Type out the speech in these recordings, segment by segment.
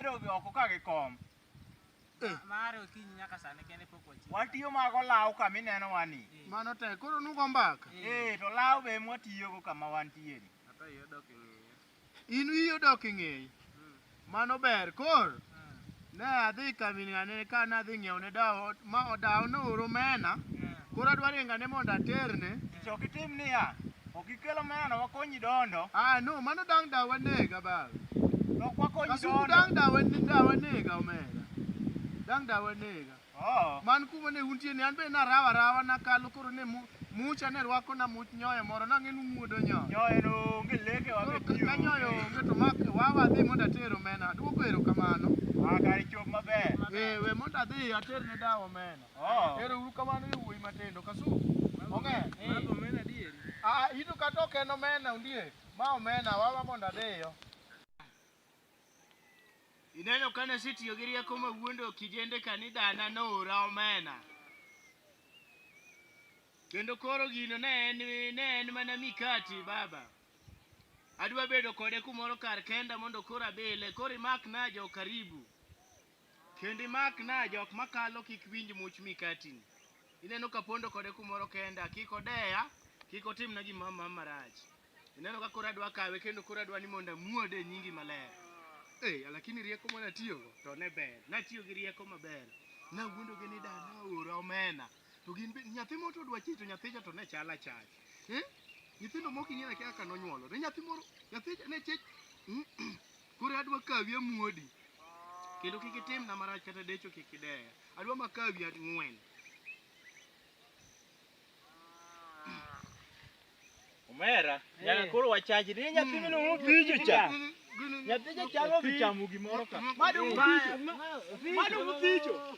Odhi oko ka gi kom. Eh. Mare okinyi nyaka sani kende pok wachiwo. Watiyo mago law ka mineno wani. Eh. Mano te koro nugo mbaka. Eh, eh to law be mwatiyo go kama wantie ni. Ata iyo dok ing'eye. In iyo dok ing'eye. Hmm. Mano ber kor. Hmm. Ne adhi kaminane ka nadhi ng'iewo ne dawo ma odawo no oro mena. Hmm. Koro adwaro ingane mondo aterne. Chok itim niya. Ok ikelo meno wakonyi dondo. Ah no, mano dang' da wanega baba. Nok wakonyi Kasuku dondo. dang' da wan- da wanega omera. Dang' da wanega. Oh. Man kuma ne untie ni an be narawa rawa nakalo koro ne mu- mucha ne rwako na much nyoyo moro nang'e ni umuodo nyoyo. Nyoyo no onge leke Koro wabe ka tiyo. ka nyoyo onge to mak wawa adhi mondo ater omena. Aduoko erokamano. Ah, kare chop maber. Eh, we mondo adhi ater ne dawa omena. Oh. Ero uru kamano yo wuoyi matindo kasu. Onge. Mago mena dieri. Ah, ito kata ok en omena undie. Ma omena wawa mondo adeyo. Ineno kane asetiyo gi rieko ma wuondo kijende kanidana noora omena. Kendo koro gino ne en ne en mana mikati baba. Adwa bedo kode kumoro kar kenda mondo koro abile. Koro imakna jo karibu. Kendo imak na jok makalo kik winj much mikatini. Ineno ka pondo kode kumoro kenda, kik odeya, kik otimna gima ma marach. Ineno ka koro adwa kawe kendo koro adwa ni mondo amuode e nyingi maler. Eh, lakini rieko mane atiyogo to ne ber. Natiyo gi rieko maber. Nawuondogi ni dana ora omena. To gin be nyathi moro to odwa chich to nyathicha to ne chal achach. Eh? Nyithindo moko ing'eyo akia kaka nonyuolore. Nyathi moro, nyathicha ne chich. Koro adwa kawi amuodi. Kendo kik itimna marach kata decho kik ideya. Adwa makawi ang'wen. Omera, nyaka koro wachaji ni nyathi mino mo bijo cha. Nyathi cha chalo bichamo gimoro ka. Madu bijo. Madu bijo.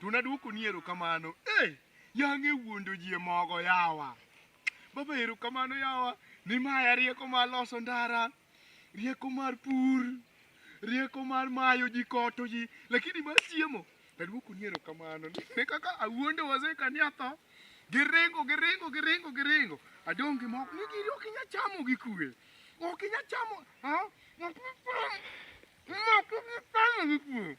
To nadwoko ni erokamano. Eh, yang'e wuondo ji e mogo yawa. Baba erokamano yawa ni maya rieko mar loso ndara, rieko mar pur, rieko mar mayo ji koto ji, lakini mar chiemo nadwoko ni erokamano. Ne kaka awuondo wazee kani atho, giringo giringo giringo giringo. Adong' gi mogo ni gini ok inya chamo gi kwe. Ok inya chamo, ha? Ok inya chamo gi kwe.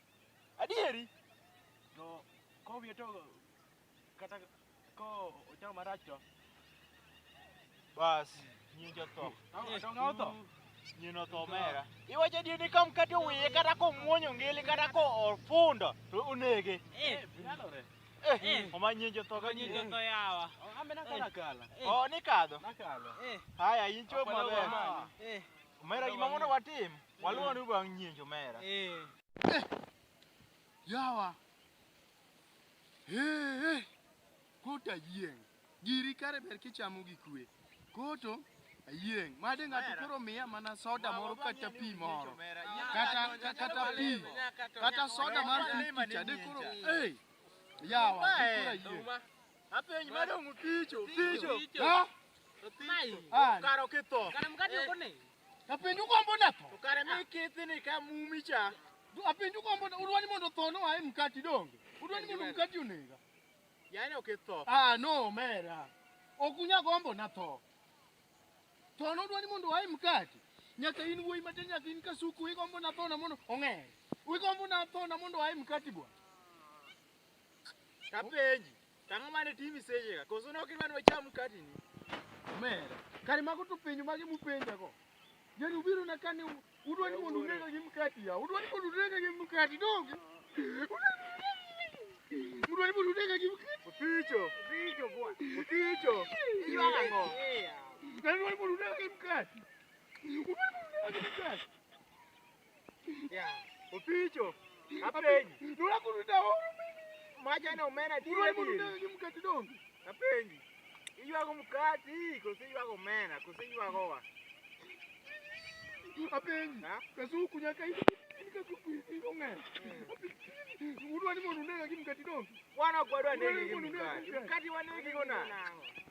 Adieri. To ko wiye to kata ko ochamo marach to. Bas, nyingi otho. Atonga otho. Nyini otho omera. Iwacho adieri ka mkate owiye kata komwonyo ngili kata ko ofundo to onege. Eh, nyalore. Eh, oma nyingi otho ka nyingi otho yawa. Ambe nakala kala. Oh, nikadho. Nakala. Eh. Haya, incho maber. Eh. Omera gima mondo watim. Waluwo ni bang' nyienjo mera. Eh. eh. Yawa. Eh, eh. Kota yieng'. Giri kare ber kichamo gi kwe. Koto ayieng' made ng'ato koro miya mana soda moro kata pi moro kata kata pi kata soda mar fifty cha de koro ei yawa koro ayieng' apenj madong' picho picho ha karo kitho kara mkate ukone Apenjo gombo na tho. To kare mi kithi ni ka mumi cha. Apenjo gombo na udwa ni mondo tho no ae mkati donge. Udwa ni mondo mkati onega. Yaani okitho. Ah no mera. Okunya gombo na tho. Tho no udwa ni mondo ae mkati. Nyaka in wuoyi matin nyaka in kasuku igombo na tho na mondo ong'e. Igombo na tho na mondo ae mkati bwana. Kapenji. Tang'o mane timi sechega, koso nok idwa ni wacham mkatini? Omera, kare mago to penjo mage mupenjago? Yaani ubiro na kani udwa ni mondo unega gi mkati ya, udwa ni mondo unega gi mkati donge? Udwa ni mondo unega gi mkati? Opicho, opicho bwana, opicho, iywaga ng'o? Yaani udwa ni mondo unega gi mkati? Udwa ni mondo unega gi mkati? Yeah. Opicho. Apenyi. Nula kuruda o. Maja na omena ti. Nula kuruda ni mkati dongo. Apenyi. Iywago mkati, kose iywago omena, kose iywago wa. Apenyi. Ha? Kasuku nyaka hivi. Kasuku hivi ongea. Udwa ni mondo unega gi mkati dongo. Wana kwadwa negi gi mkati. Mkati wanegi gona.